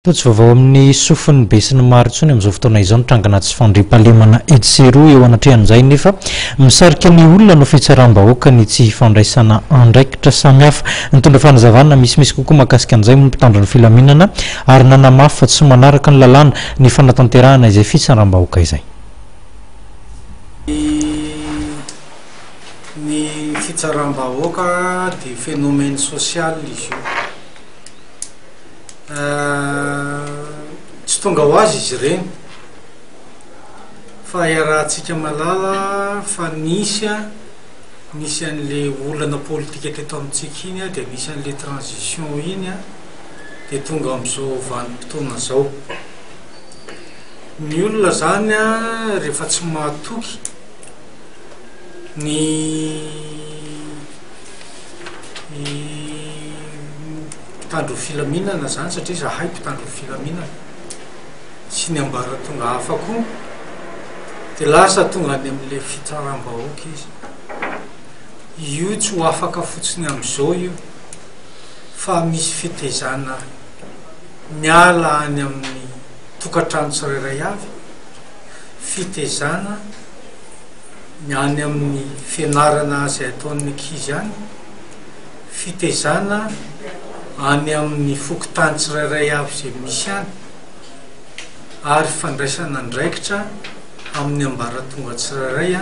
Toa tsy vaovao amin'ny sofin'ny be sy ny maro intsony amin'izao fotoana izao ny trangana tsy fandriampahalemana etsy sy eroa eo anatrehan'izay nefa misarika ny olona no fitsaram-bahoaka ny tsy hifandraisana andraikitra samihafa. Nitondra fanazavana misimisy kokoa mahakasika an'izay moa ny mpitandro ny filaminana ary nanamafy fa tsy manaraka ny lalàna ny fanatanterahana izay fitsaram-bahoaka izay. Ny fitsaram-bahoaka dia phénomène social izy io. Tsy tonga ho azy izy ireny fa iarahantsika mahalala fa nisy an, nisy an'le olana politika teto amintsika iny an, dia nisy an'le transition iny an, dia tonga amin'izao vanim-potoana izao. Ny olona izany an, rehefa tsy mahatoky ny ny mpitandro ny filaminana izany satria izahay mpitandro ny filaminana sy ny ambaratonga hafa koa dia lasa tonga any amin'ilay fitsaram-bahoaka izy io tsy ho afaka fotsiny amin'izao io fa misy fitezana miala any amin'ny tokantrano tsirairay avy fitezana ny any amin'ny fianarana izay ataon'ny ankizy any fitezana any amin'ny fokontany tsirairay avy izay misy any ary fandraisana andraikitra amin'ny ambaratonga tsirairay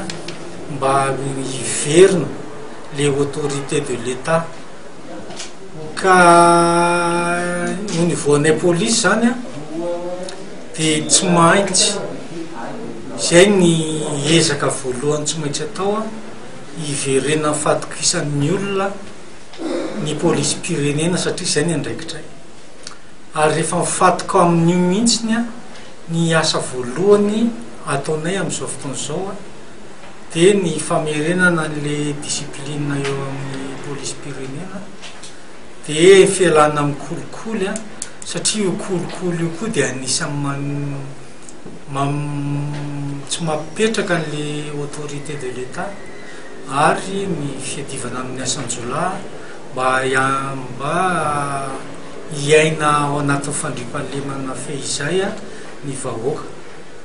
mba hiverina le autorité de l'Etat ka au niveau anay police izany a dia tsy maintsy izay ny ezaka voalohany tsy maintsy atao a Hiverenan'ny fahatokisan'ny olona ny polisim-pirenena satria izay ny andraikitray. Ary rehefa mifantoka amin'io mihitsy ny asa voalohany ataonay amin'izao fotoana izao dia ny famerenana an'ilay discipline eo amin'ny polisim-pirenena dia fialana amin'ny kolikoly satria io kolikoly io koa dia anisan'ny tsy mampipetraka an'le autorité de l'Etat ary ny fiadivana amin'ny asan-jiolahy mba mba hiaina ao anatin'ny fandriampahalemana fehizay ny vahoaka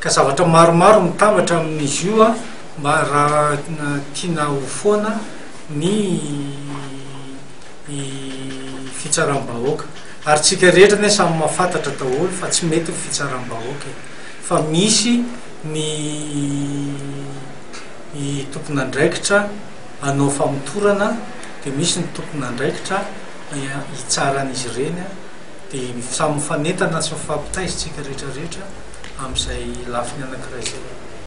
ka zavatra maromaro mitambatra amin'izy io an mba raha tiana ho foana ny ny fitsaram-bahoaka ary tsika rehetra anie samy mafatatra daholo fa tsy mety ny fitsaram-bahoaka e! fa misy ny tompon'andraikitra hanao famotorana dia misy ny tompon'andraikitra hitsara an'izy ireny dia samy mifanentana sy mifampitaiza tsika rehetra rehetra amin'izay lafiny anakiray izay.